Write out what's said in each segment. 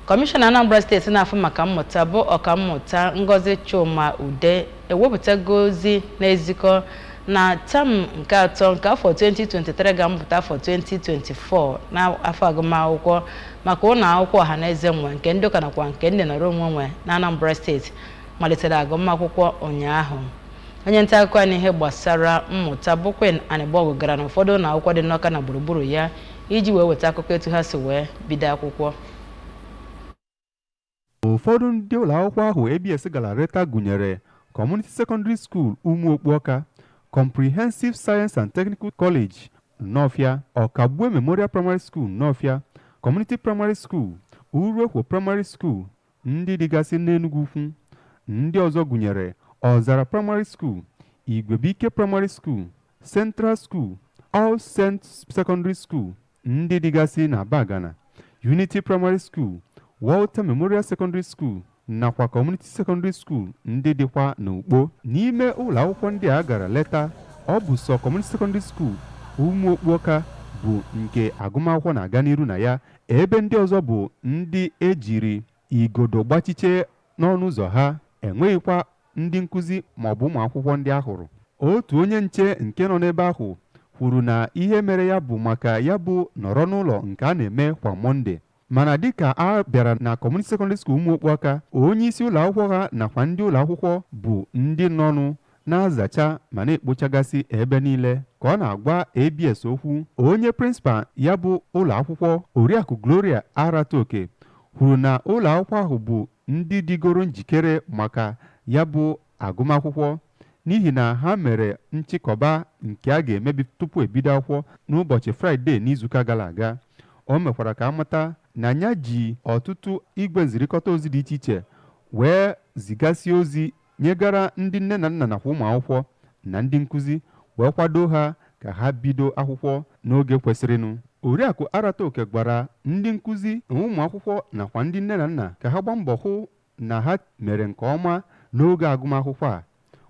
Kọmishọna Anambra steeti na-afụ maka mmụta bụ ọkammụta Ngozi Chuma Ude ewepụtago ozi na-ezikọ na tam nke atọ nke afọ 2023 ga-amụpụta afọ 2024 n'afọ agụmakwụkwọ maka ụnọ akwụkwọ ọha na eze nwe nke ndị ụka nakwa nke ndị nọrọ onwe nwe na Anambra steeti malitere agụmakwụkwọ ụnyaahụ onye nta akụkọ anyị n'ihe gbasara mmụta bụ Queen Anịgbọgụ gara n'ụfọdụ ụnọ akwụkwọ dị n'Ọka na gburugburu ya iji wee weta akụkọ etu ha si wee bido akwụkwọ ụfọdụ ndị ụlọ akwụkwọ ahụ abs gara leta gụnyere community secondary school ụmụokpu ọka comprehensive science and technical college nnọfịa ọkagbue memorial primary school nnọfịa community primary school uruekwo primary school ndị dịgasị n'Enugwu Ukwu ndị ọzọ gụnyere Ọzara Primary School, Igwebuike Primary School, Central School, All Saints Secondary School ndị dịgasị n'Abagana, Unity Primary School, Walter Memorial Secondary School nakwa Community Secondary School ndị dịkwa n'Ukpo. N'ime ụlọ akwụkwọ ndị a gara leta, ọ bụ sọ Community Secondary School Ụmụokpu Ọka bụ nke agụmakwụkwọ na-aga n'iru na ya ebe ndị ọzọ bụ ndị ejiri igodo gbachiche n'ọnụ ụzọ ha enweghịkwa ndị nkụzi maọbụ ụmụ akwụkwọ ndị a hụrụ otu onye nche nke nọ n'ebe ahụ kwuru na ihe mere ya bụ maka ya bụ nọrọ n'ụlọ nke a na-eme kwa mọnde mana dịka a bịara na community secondary school ụmụokpu ọka onye isi ụlọ akwụkwọ ha nakwa ndị ụlọ akwụkwọ bụ ndị nọnụ na-azacha ma na-ekpochagasị ebe niile ka ọ na-agwa ABS okwu onye prịnsịpal ya bụ ụlọ akwụkwọ Oriakụ Gloria Arataoke kwuru na ụlọ akwụkwọ ahụ bụ ndị dịgoro njikere maka ya bụ agụmakwụkwọ n'ihi na ha mere nchịkọba nke a ga-emebi tupu e bido akwụkwọ n'ụbọchị fraịde n'izuụka gara aga o mekwara ka a mata na ya ji ọtụtụ igwe nzirikọta ozi dị iche iche wee zigasị ozi nyegara ndị nne na nna nakwa ụmụ akwụkwọ na ndị nkụzi wee kwado ha ka ha bido akwụkwọ n'oge kwesịrịnụ oriakụ arataoke gwara ndị nkụzi na ụmụ akwụkwọ nakwa ndị nne na nna ka ha gbaa mbọ hụ na ha mere nke ọma n'oge agụmakwụkwọ a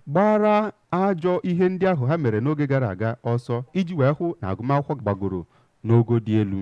gbaara ajọ ihe ndị ahụ ha mere n'oge gara aga ọsọ iji wee hụ na agụmakwụkwọ gbagoro n'ogo dị elu